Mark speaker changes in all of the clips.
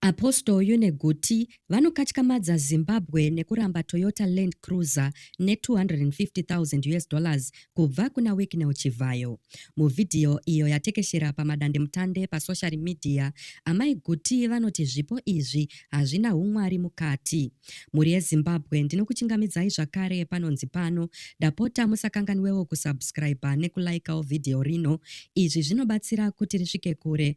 Speaker 1: Apostle uyu neGuti vanokatyamadza Zimbabwe nekuramba Toyota Land Cruiser ne 250,000 us dollars kubva kuna Wicknell Chivhayo. Muvhidhiyo iyo yatekeshera pamadandemutande pasocial media, Amai Guti vanoti zvipo izvi hazvina humwari mukati. Mhuri yeZimbabwe ndinokuchingamidzai zvakare panonzi pano, ndapota musakanganwewo kusubscriber nekulaikawo vhidhiyo rino, izvi zvinobatsira kuti risvike kure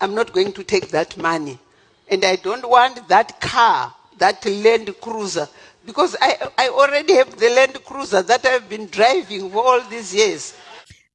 Speaker 2: I'm not going to take that money and I don't want that car that land cruiser because I, I already have the land cruiser that I've been driving for all these years.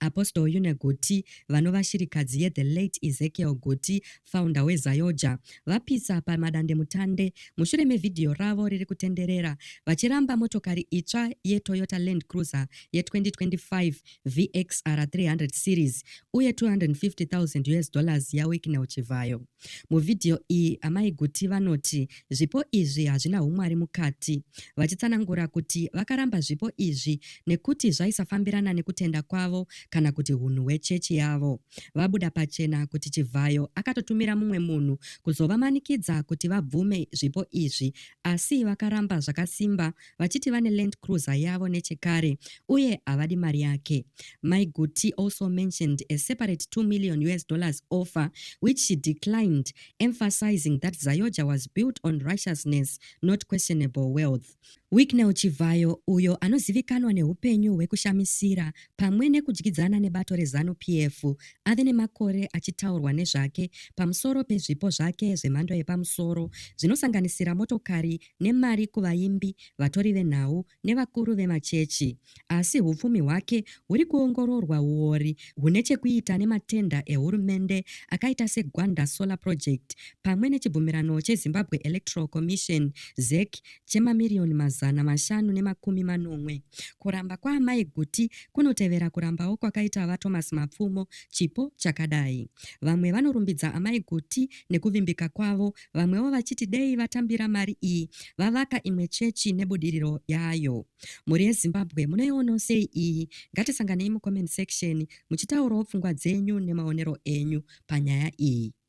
Speaker 2: Apostle
Speaker 1: Yune Goti vanova shirikadzi ye The Late Ezekiel Goti founder weZayoja vapisa pamadande mutande mushure mevhidhiyo ravo riri kutenderera vachiramba motokari itsva yeToyota Land Cruiser ye 2025 VXR 300 series uye 250,000 US dollars yaWicknell Chivhayo. Muvhidhiyo iyi, Amai Guti vanoti zvipo izvi hazvina humwari mukati, vachitsanangura kuti vakaramba zvipo izvi nekuti zvaisafambirana nekutenda kwavo kana kuti hunhu hwechechi yavo. Vabuda pachena kuti Chivhayo akatotumira mumwe munhu kuzovamanikidza kuti vabvume zvipo izvi asi vakaramba zvakasimba vachiti vane Land Cruiser yavo nechekare uye havadi mari yake. Mai Guti also mentioned a separate 2 million US dollars offer which she declined, emphasizing that Zayoja was built on righteousness, not questionable wealth. Wicknell Chivhayo, uyo anozivikanwa nehupenyu hwekushamisira pamwe nekudyidzana nebato reZanu PF, ave nemakore achitaurwa nezvake pamusoro pezvipo zvake zvemhando yepamusoro zvinosanganisira motokari nemari kuvaimbi, vatori venhau nevakuru vemachechi. Asi hupfumi hwake huri kuongororwa huori hune chekuita nematenda ehurumende akaita seGwanda Solar Project pamwe nechibvumirano cheZimbabwe Electoral Commission, ZEC, chemamiriyoni mazana mashanu nemakumi manomwe. Kuramba kwaamai Guti kunotevera kurambawo kwakaita VaThomas Mapfumo chipo chakadai. Vamwe vanorumbidza amai Guti nekuvimbika kwavo Vamwewo vachiti dei vatambira mari iyi vavaka imwe chechi nebudiriro yayo. Mhuri yeZimbabwe munoionawo sei iyi? Ngatisanganei mucomment section muchitaurawo pfungwa dzenyu nemaonero enyu panyaya iyi.